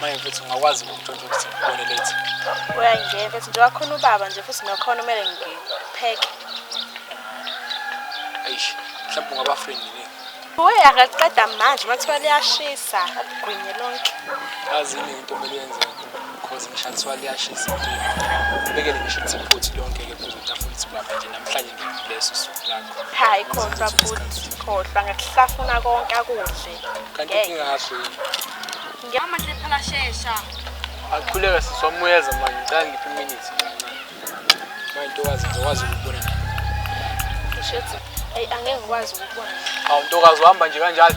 manje futhi ungakwazi ukuntshontsha ukuthi ngibone late uyangena futhi njengoba khona ubaba nje futhi nakhona kumele ngipheke eish mhlawumbe ungaba friend yini Uye akaqeda manje mathiwa liyashisa agwinye lonke. Yazi yini into okumele yenze because ngishathiwa liyashisa. Ubekele ngisho ukuthi futhi lonke ke phezu kwetafula ukuthi baba nje namhlanje leso suku lakho hayi khohlwa futhi khohlwa ngakuhlafuna konke akudle kanti ngingakho ngiyama nje phela shesha akhuleka sisi wamuyeza manje ngicela ngiphi iminutes manje ntokazi ngizokwazi ukubona ushethi ayi angeke ngikwazi ukubona awu ntokazi uhamba nje kanjalo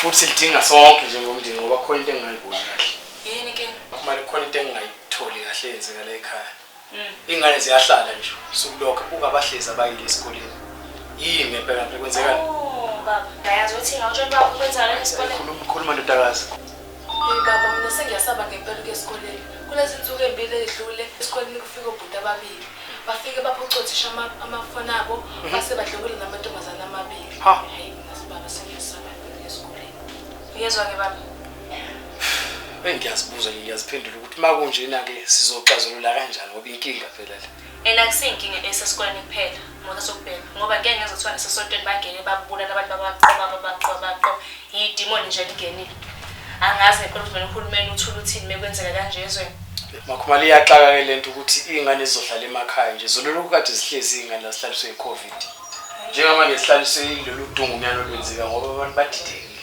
futhi sidinga sonke njengomndeni ngoba khona into engingayiboni kahle yini ke kumele khona into engingayitholi kahle yenzeka la ekhaya mm. ingane ziyahlala nje sukulokho buka abahlezi abayile esikoleni yini ngempela nto kwenzekani oh, baba yazi ukuthi ngawutshela baba kwenzakala esikoleni khuluma ndodakazi Hey baba mina sengiyasaba ngempela ukuya esikoleni. Kulezi nsuku ezimbili ezidlule esikoleni kufika obhuti ababili. Bafike baphuca othisha ama- amafoni abo base badlokula namantombazane amabili. Ha. Hayi mina sibaba sengiyasaba ngempela ukuya esikoleni. Uyezwa ke baba? Bengiyazibuza nje ngiyaziphendula ukuthi makunjena-ke sizoxazulula kanjani ngoba inkinga phela le. And akusiyinkinga esesikoleni kuphela ngoba sokubheka ngoba ngeke ngeze kuthiwa nasesontweni bangene babulala abantu babaqoba babaqoba babaqoba yidimoni nje lingenile angazi ngempela ukuthi mina uhulumeni uthula uthini mekwenzeka kanje ezweni makhumali iyaxaka ke lento ukuthi iy'ngane zizohlala emakhaya nje zololokhu kade zihlezi iy'ngane la zihlaliswe i-covid njengamanje zihlaliswe ilolu dungunyana olwenzeka ngoba abantu badidekile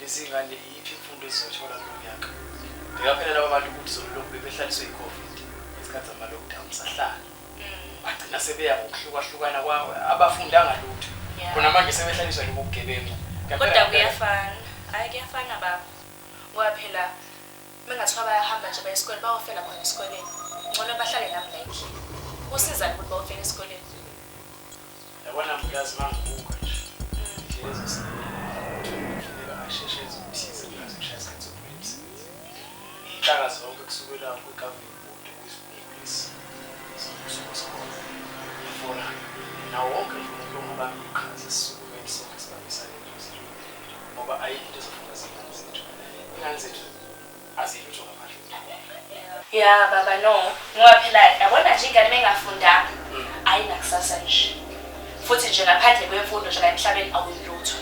Lezi ngane iyiphi imfundo ezizothola kulo nyaka? Bheka phela laba bantu ukuthi zolulokhu bebehlaliswe yi-Covid ngesikhathi zama-lockdown sahlala. Mm. Bagcina sebeya ngokuhlukahlukana kwawo abafundanga lutho. Yeah. Khona manje sebehlaliswa lobu bugebengu. Kodwa Ngempela- kuyafana. Hayi kuyafana baba. Ngoba phela mengathiwa bayahamba nje baye esikoleni bayofela khona esikoleni. Ngcono bahlale nami la ekhini. Kusizani ukuthi bayofela esikoleni? Yabona mnikazi mangibuka nje indlela ezosebenza asheshe enze okuthize ngiyazi kushaya isikhathi sokuphela emsebenzini. Iy'nhlaka zonke kusukela kwi-governing board kwizigungu lezi zombuso wesikole iforamu nawo wonke nje umuntu ongabamba iqhaza sisukumeni sonke sibambisane eduze ngoba ayikho into ezofuna zingane zethu ingane zethu Azi lutho ngaphandle kweskhole. Ya baba no ngoba phela yabona nje ingane mengafundanga ayinakusasa nje futhi nje ngaphandle kwemfundo nje la emhlabeni awuyilutho.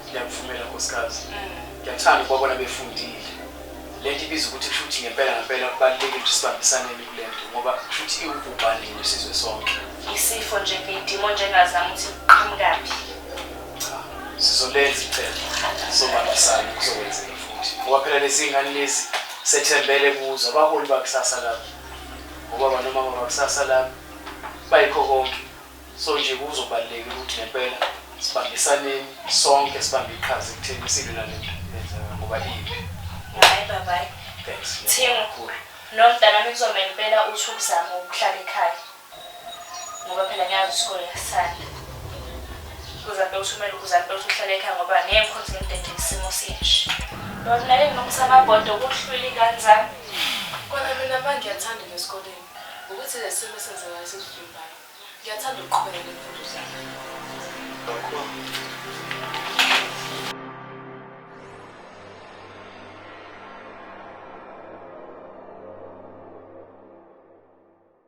Ngiyakuvumela nkosikazi. Ngiyakuthanda ukubabona befundile. Lento ibiza ukuthi kusho ukuthi ngempela ngempela kubalulekile ukuthi sibambisaneni kulento ngoba kusho ukuthi iwubhubhane nje isizwe sonke. Isifo nje ngedimo nje engazami ukuthi kuqhamukaphi. Cha, sizolenza icebo sobambisana kuzokwenzeka futhi ngoba phela lezi ngane lezi sethembele kuzo abaholi bakusasa labo ngobaba nomama bakusasa labo bayikho konke so nje kuzobalulekile ukuthi ngempela sibambisaneni sonke sibambe iqhaza ekutheni isilwe nale nto yenzeka ngoba imbi hayi babayi thanks Thingo. nomntanami kuzomele impela uthi ukuzama ukuhlala ekhaya ngoba phela ngiyazi isikole yasanda uzambe ukuthi umele ukuzambe ukuthi uhlale ekhaya ngoba ngeke ngikhonze ngimdede isimo sinje lona nake nginomsamabhodo kuhlwili ingane zami kona mina mba ngiyathanda nesikoleni ukuthi le simo esenzekayo sikuvimbayo ngiyathanda ukuqhubeka nemfundo zami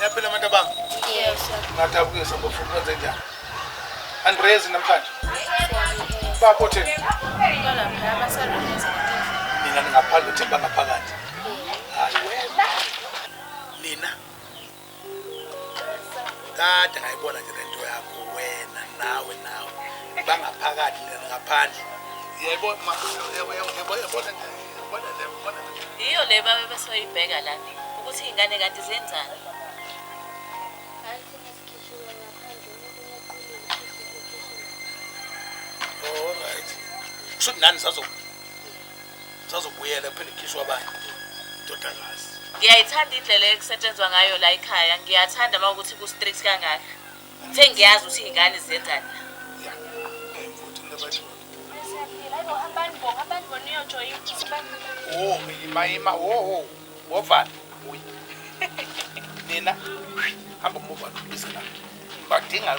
Niyaphila abantu abami? Yes. Ngadabukisa bafuna ukwenza njani? Andrezi namhlanje. Bapho thina. Balapha abasalungisa. Mina ningaphandle uthi bangaphakathi. Hayi wena. Nina. Kade ngayibona nje lento yakho wena nawe nawe. Bangaphakathi nina ngaphandle. Yebo ma yebo yebo yebo. yiyo le babe besoyibheka la ukuthi iy'ngane kanti zenzani Alright. Kusho ukuthi nani sazo sazobuyela kuphela ikhishwa abantu indodakazi. ngiyayithanda indlela ekusetshenzwa ngayo la ekhaya ngiyathanda uma ukuthi ku-strict kangaka Uthe ngiyazi ukuthi iy'ngane zenzani la. Oh, ima ima oh oh. Wovana. Uyi. Nina hamba umuvana ubize la. Badinga.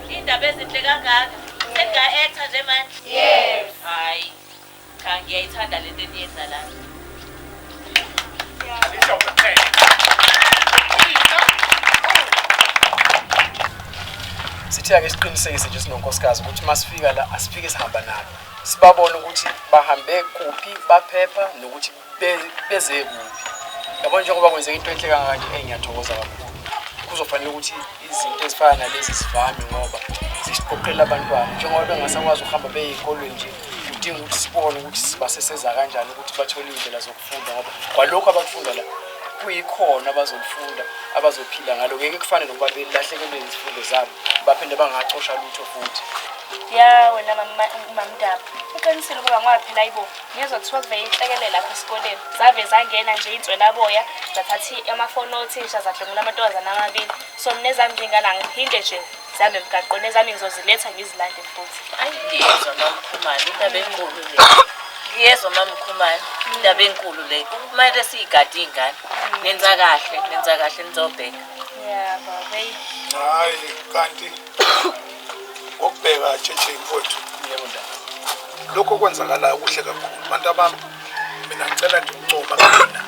Indaba ezinhle kangaka. Senga actor nje manje. Yes. Hayi. Cha ngiyayithanda lento eniyenza la. Lisho kuphela. Sithe ake siqinisekise nje sinonkosikazi ukuthi masifika la asifike sihamba nabo. Sibabone ukuthi bahambe kuphi, baphepha nokuthi beze kuphi yabo njengoba kwenzeka into enhle kangaka nje eyi ngiyathokoza kakhulu kuzofanele ukuthi izinto ezifana nalezi zivame ngoba zisiqoqela abantwana njengoba bengasakwazi ukuhamba beye ey'kolweni nje kudinga ukuthi sibone ukuthi sibaseseza kanjani ukuthi bathole iy'ndlela zokufunda ngoba kwalokhu abakufunda la kuyikhona abazolifunda abazophila ngalo ngeke kufane nokuba belahlekelwe izifundo zabo baphinde bangacosha lutho futhi ya wena mamdaba uqinisile ukuba ngoba phela ayibo Ngezwa kuthiwa kuvele inhlekelele lapha esikoleni. Zave zangena nje iy'nswelaboya zathatha i- amafoni othisha zadlwengula amantombazane amabili. So mina ezami zingane angiphinde nje zihambe emgaqweni ezami ngizoziletha ngizilande futhi. Ayi ngiyezwa mamkhumane indaba enkulu le. Ngiyezwa mamkhumane indaba enkulu le. Kumele siyigade iy'ngane. Nenza kahle, nenza kahle nizobheka. Yeah, baba. eyi. hayi kanti ngokubheka tshetshe mfowethu Yebo ndaba. lokho okwenzakalayo kuhle kakhulu bantu abami mina ngicela nje ukuncoma mina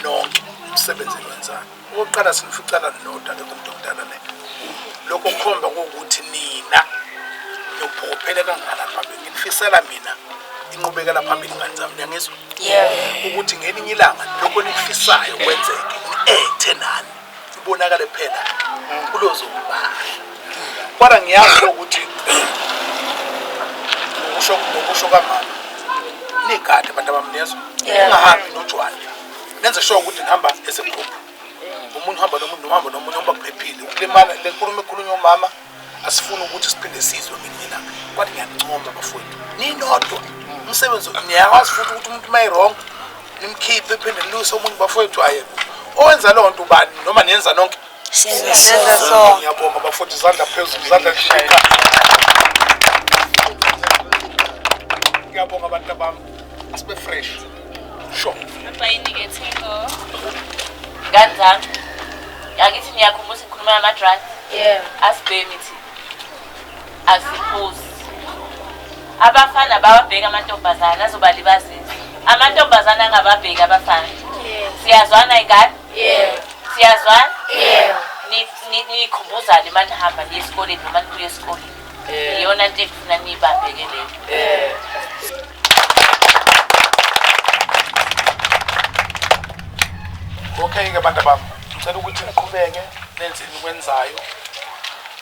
nonke umsebenzi enwenzani okokuqala sinificana ninoda ke kumuntu omdala le lokho kukhomba kokuthi nina niyophokophele kangana phambili nginifisela mina inqubekela phambili ngani zami niyangizwa ukuthi ngelinye ilanga lokho nikufisayo kwenzeke ni-ethe nani kubonakale kuphela kulozokubala kodwa ngiyazi ukuthi ukusho ukusho kamama nigade abantu abamnezwe ungahambi nojwana nenze sure ukuthi nihamba as a group umuntu uhamba nomuntu nohamba nomunye uba kuphephile ukulimala le nkulumo ekhulunywa umama asifuni ukuthi siphinde sizwe ngelinye ilanga kwathi ngiyancoma bafowethu ninodwa umsebenzi niyakwazi futhi ukuthi umuntu uma irong nimkhiphe phinde niluse omunye bafowethu ayeko owenza loo nto ubani noma niyenza nonke ngiyabonga bafowethu izandla phezulu izandla lishika ngiyabonga abantu abami asibe fresh Sho. Baba yini ke Thingo? Ngani zami. Angithi niyakhumbula ukuthi ngikhuluma nama drugs? Yeah. Asibhemi thi. Asiphuzi. Abafana bawabheka amantombazana azobalibazisa. Amantombazana angababheki abafana. Yeah. Siyazwana ingane? Yeah. Siyazwana? Yeah. Nikhumbuzane manje hamba niye esikoleni noma nibuye esikoleni. Iyona nto efuna nibabheke leyo. Yeah. okay ke bantu bami ngicela ukuthi niqhubeke nenze enikwenzayo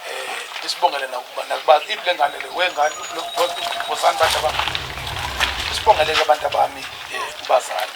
um isibongele nakuba nakuba ipi le ngane le wengane bosani bantu bami isibongele ke abantu abami um ubazali